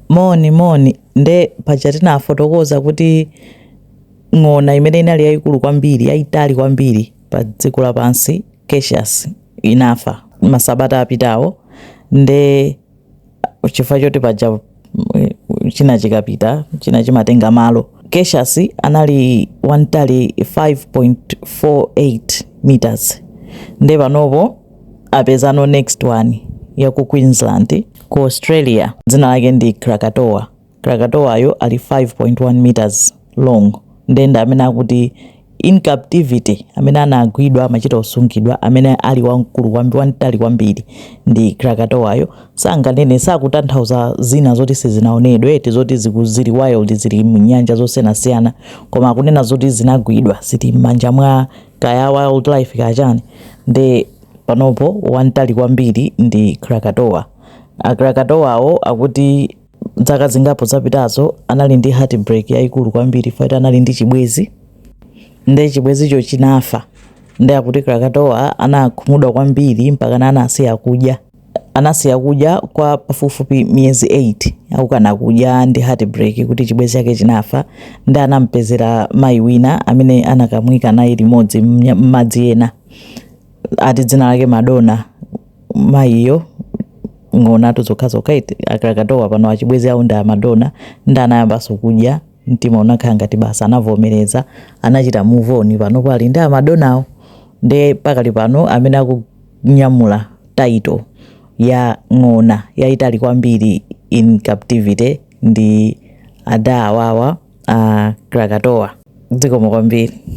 Moni, moni. Nde paja tinafotokoza kuti ng'ona imene inali yayikulu kwambiri, yayitali kwambiri pa dziko lapansi, Cassius, inafa masabata apitawo. Nde chifukwa choti paja mm, china chikapita, china chimatenga malo. Cassius anali wantali 5.48 meters. Nde panopo apezano next one ya ku Queensland ku Australia dzina lake ndi Krakatoa. Krakatoayo ali 5.1 meters long nde ndi amene akuti in captivity amene anagwidwa amachita kusungidwa amene ali wamkulu kwambiri wamtali kwambiri ndi Krakatoayo sakunena sakutanthauza zina zoti sizinaonedwe eti zoti ziku- zili wild zili mnyanja zosiyanasiyana koma akunena zoti zinagwidwa zili m'manja mwa kaya wildlife kaya chani nde panopo wantali kwambiri ndi Krakatoa a Krakatoawo akuti dzaka zingapo zapitazo anali ndi heartbreak yaikulu kwambiri chifukwa choti anali ndi chibwezi nde chibwezicho chinafa nde akuti Krakatoa anakhumudwa kwambiri mpaka anasiya kudya anasiya kudya kwa pafupifupi miyezi 8 akukana kudya ndi heartbreak kuti chibwenzi chake chinafa nde anampezera mayi wina amene anakamuyika naye limodzi mnya- m'madzi ena ati dzina lake Madonna mayiyo ng'onatu zokhazokha eti a Krakatoa pano achibwenzi awo ndi a Madonna nde anayambanso kudya mtima unakhala ngati basi anavomereza anachita move on panopo ali ndi a Madonnawo nde pakali pano amene aku nyamula title ya ng'ona yaitali kwambiri in captivity ndi ada awawa a Krakatoa. Dzikomo kwambiri.